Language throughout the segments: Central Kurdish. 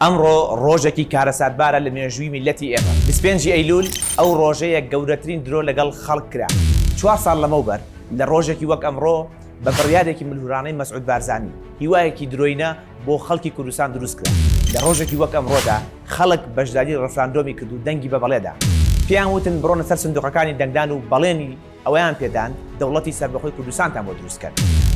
ئەمڕۆ ڕۆژێکی کارەساتبارە لە مێژووی میللەتی ئێمە، بیست و پێنج ی ئەیلوول ئەو ڕۆژەیە گەورەترین درۆ لەگەڵ خەڵک کرا، چوار ساڵ لەمەوبەر لە ڕۆژێکی وەک ئەمڕۆ بە بڕیارێکی ملهورانەی مەسعود بارزانی هیوایەکی درۆینە، بۆ خەڵکی کوردستان دروست کرا. لە ڕۆژێکی وەک ئەمڕۆدا خەڵک بەشداری ڕفراندۆمی کرد و دەنگی بە بەڵێ دا. پێیان وتن بڕۆنە سەر سندوقەکانی دەنگدان و بەڵێنی ئەوەیان پێدان دەوڵەتی سەربەخۆی کوردستانتان بۆ دروست کەن.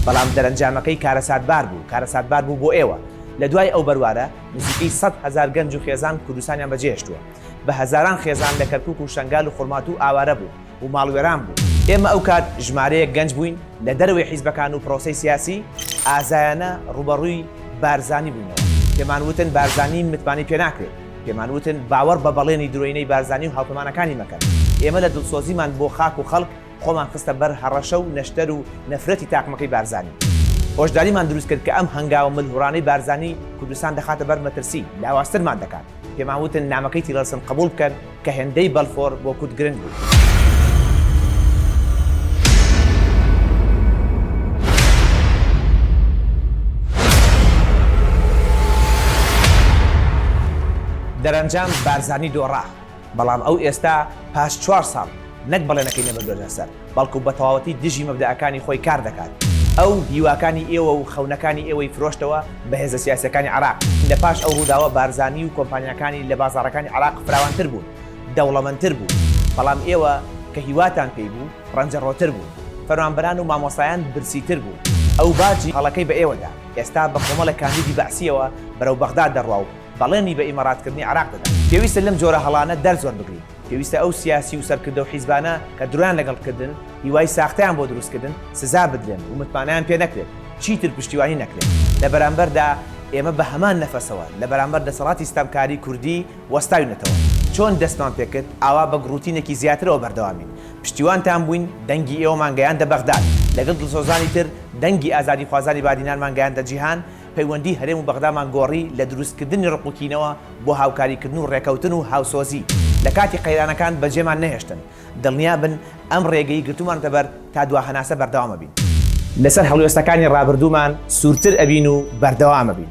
بەڵام دەرەنجامەکەی کارەساتبار بوو، کارەساتبار بوو بۆ ئێوە. لە دوای ئەو بەروارە نزیکەی سەد هەزار گەنج و خێزان کوردستانیان بەجێهێشتووە. بە هەزاران خێزان لە کەرکووک و شەنگال و خورماتوو ئاوارە بوون. و ماڵوێران بوو. ئێمە ئەو کات ژمارەیەک گەنج بووین لە دەرەوەی حیزبەکان و پرۆسەی سیاسی ئازایانە ڕووبەڕووی بارزانی بووینەوە. پێمان وتن بارزانی متمانەی پێ ناکرێت. پێمان وتن باوەڕ بە بەڵێنی درۆینەی بارزانی و هاوپەمانەکانی مەکەن. ئێمە لە دڵسۆزیمان بۆ خاک و خەڵک خۆمان خستە بەر هەڕەشە و نەشتەر و نەفرەتی تاقمەکەی بارزانی. هۆشداریمان دروست کرد کە ئەم هەنگاوە ملهوڕانەی بارزانی کوردستان دەخاتە بەر مەترسی لاوازترمان دەکات. پێمان وتن نامەکەی تیڵەرسن قبوڵ بکەن کە هێندەی بەلفۆر بۆ کورد گرنگ بوو. دەرەنجام بارزانی دۆڕا، بەڵام ئەو ئێستا پاش چوار ساڵ نەک بەڵێنەکەی نەبردووەتە سەر، بەڵکو بەتەواوەتی دژی مەبدەئەکانی خۆی کار دەکات. ئەو هیواکانی ئێوە و خەونەکانی ئێوەی فرۆشتەوە بە هێزە سیاسییەکانی عێراق. لە پاش ئەو ڕووداوە بارزانی و کۆمپانیاکانی لە بازاڕەکانی عێراق فراوانتر بوون، دەوڵەمەندتر بوون. بەڵام ئێوە کە هیواتان پێی بوو، ڕەنجەڕۆتر بوون. فەرمانبەران و مامۆستایان برسیتر بوون. ئەو باجی هەڵەکەی بە ئێوە دا. ئێستا بە کۆمەڵێک کاندیدی بەعسییەوە بەرەو بەغداد دەڕوا و بەڵێنی بە ئیماراتکردنی عێراق دەدات. پێویستە لەم جۆرە هەڵانە دەرس وەربگرین. پێویستە ئەو سیاسی و سەرکردە و حیزبانە کە درۆیان لەگەڵ کردن، هیوای ساختەیان بۆ دروست کردن، سزا بدرێن و متمانەیان پێ نەکرێت، چیتر پشتیوانی نەکرێن. لە بەرامبەردا ئێمە بە هەمان نەفەسەوە لە بەرامبەر دەسەڵاتی ستەمکاری کوردی وەستاوینەتەوە. چۆن دەستمان پێ کرد، ئاوا بە گڕوتینێکی زیاترەوە بەردەوامین. پشتیوانتان بووین، دەنگی ئێوەمان گەیاندە بەغداد. لەگەڵ دڵسۆزانی تر دەنگی ئازادیخوازانی بادینانمان گەیاندە جیهان. پەیوەندی هەرێم و بەغدامان گۆڕی لە دروستکردنی ڕق و کینەوە بۆ هاوکاریکردن و ڕێکەوتن و هاوسۆزی، لە کاتی قەیرانەکان بەجێمان نەهێشتن، دڵنیابن ئەم ڕێگەی گرتومانەتە بەر تا دوا هەناسە بەردەوام ئەبین. لەسەر هەڵوێستەکانی ڕابردوومان سوورتر ئەبین و بەردەوام ئەبین.